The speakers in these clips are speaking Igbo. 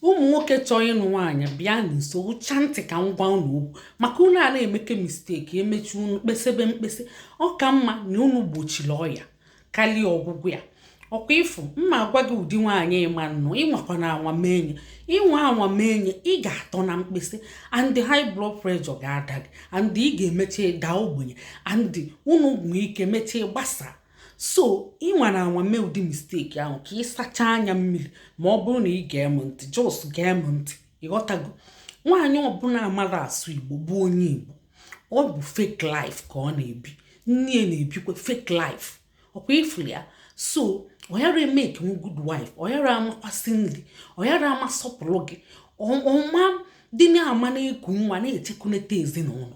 ụmụ nwoke chọọ ịnụ nwaanyị bịa nso ụcha ntị ka m gwa unu okwu maka unu ana-emeke mistake emechi unu kpesebe mkpese ọ ka mma na unu gbochiri ọya karịa ọgwụgwụ ya ọkwa ị fụ m ma-agwa gị ụdị nwaanyị ị ma-anụ ịnwakwana anwa menye ị nwaa anwa menye ị ga-atọ na mkpese and high blood pressure ga-ada gị and ị ga-emecha daa ogbenye and unu nwee ike mechaa gbasaa so ị nwara anwa mee ụdị mistake ahụ ka ị sachaa anya mmiri ma ọ bụrụ na ị gee m ntị just gee m ntị ịghọtago nwaanyị ọbụla amara asụ igbo bụ onye igbo ọ bụ fake life ka ọ na-ebi nne ya na-ebikwa fake life ọkwa ị fụrụ ya so ọ yara emekenwu good wife ọ yara amakwa esi nri ọ yara ama asọpụrụ gị ọ ma-adị na-ama na-eku nwa na-echekunete ezinụlọ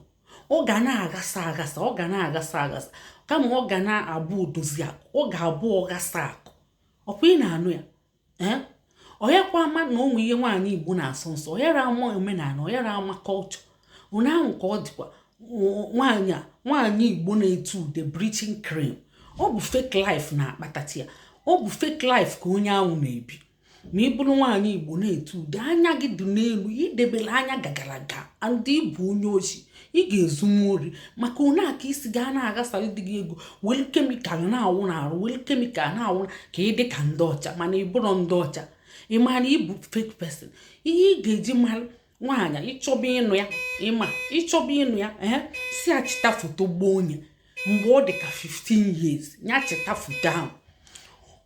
ọ ga na-aghasa aghasa ọ ga na-aghasa aghasa kama ọ ga na-abụ odozi akụ ọ ga-abụ ọghasa akụ ọkwa ị na-anụ ya ee ọ yakwa ama na o nwe ihe nwaanyị igbo na-asọ nsọ ọ yara ama omenala ọ yara ama culture unu ahụ ka ọ dịkwa nwaanyị a nwaanyị igbo na-ete ude bleaching cream ọ bụ fake life na-akpatachi ya ọ bụ fake life ka onye ahụ na-ebi ma ị bụrụ nwaanyị igbo na-ete ude anya gị dị n'elu i debere anya gagaraga and ị bụ onye oshi ị ga-ezunwu ori maka one aka i si gaa na-aghasara di gị ego welu chemical na-awụ n'arụ welu chemical na-awụ ka ị dị ka ndị ọcha mana ị bụrọ ndị ọcha ị ma na ị bụ fake person ihe ị ga-eji mara nwaanyị ị chọba ịnụ ya ma ị chọba ịnụ ya ee sị ya chịta foto gboo enye mgbe ọ dị ka 15 years ya chịta foto ahụ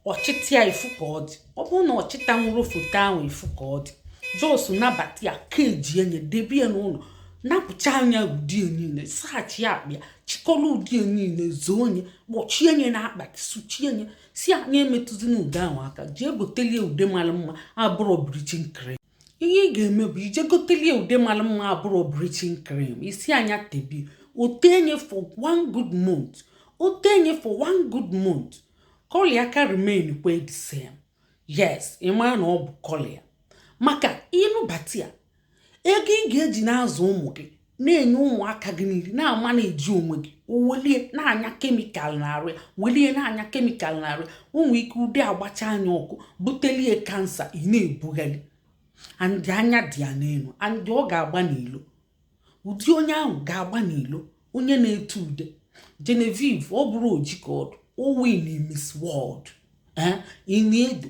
ọ chịta ya ị fụ ka ọ dị ọ bụrụ na ọ chịtanwurọ foto ahụ ị fụ ka ọ dị just nabata ya keji enye debe ya n'ụlọ napụcha ya ude ya niile saghachi ya akpa ya chịkọrọ ude ya niile zoo enye kpọchie nye na akpati suchie nye sị ya emetụzina ude ahụ aka jee gotelie ude mara mma abụrọ bleaching cre ihe ị ga-eme bụ ị jee gotelie ude mara mma abụrọ bleaching cream ị sị a ya tebie o tee enye for one good month o tee enye for one good month colour ya ka remain kwa the same yes ị mara na ọ bụ colour ya maka ị nụbata ya ego ị ga-eji na-azụ ụmụ gị na-enye ụmụaka gị nri na-amanage onwe gị o welie na-anya chemical n'arụ ya welie na-anya chemical n'arụ ya o nwee ike ude agbachaa ya ọkụ butelie cancer ị na-ebugharị and anya dị ya n'elu and ọ ga-agba n'ilo ụdị onye ahụ ga-agba n'ilo onye na-ete ude Genevieve ọ bụrọ oji ka ọ dị o win Miss World ee eh, ịna edo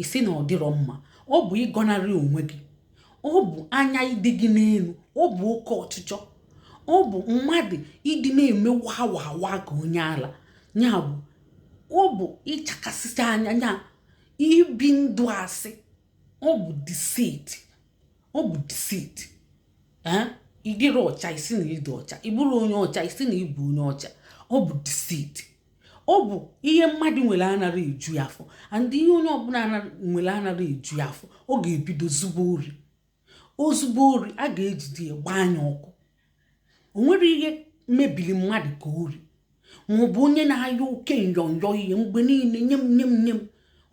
ị sị na ọ dịrọ mma ọ bụ ịgọnarị onwe gị ọ bụ anya ịdị gị n'elu ọ bụ oke ọchịchọ ọ bụ mmadụ ịdị na-eme wawawa ka onye ala ya bụ ọ bụ ịchakasịcha anya ya ibi ndụ asị ọ bụ deceit ọ bụ deceit ị dịrọ ọcha ị sị na ị dị ọcha ị bụrọ onye ọcha ị sị na ị bụ onye ọcha ọ bụ deceit ọ bụ ihe mmadụ nwere anara eju ya afọ and ihe onye ọbụla nwere anara eju ya afọ ọ ga-ebido zube ori o zube ori a ga-ejide ya gbaa nya ọkụ o nwerọ ihe mebiri mmadụ ka ori ma ọ bụ onye na-ayọ oke nyọnyọ ihe mgbe niile nye m nye m nye m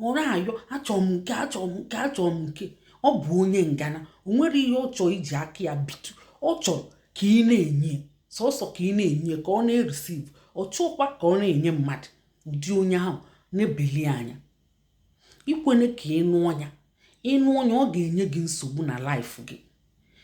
ọ na-ayọ achọrọ m nke achọrọ m nke achọrọ m nke ọ bụ onye ngana o nwerọ ihe ọ chọrọ iji aka ya bitụ ọ chọrọ ka ị na-enye sọsọ ka ị na-enye ka ọ na-ereceive ọ chọọkwa ka ọ na-enye mmadụ ụdị onye ahụ na-ebeli anya ikwene ka ị nụọ nya ị nụọ nya ọ ga-enye gị nsogbu na life gị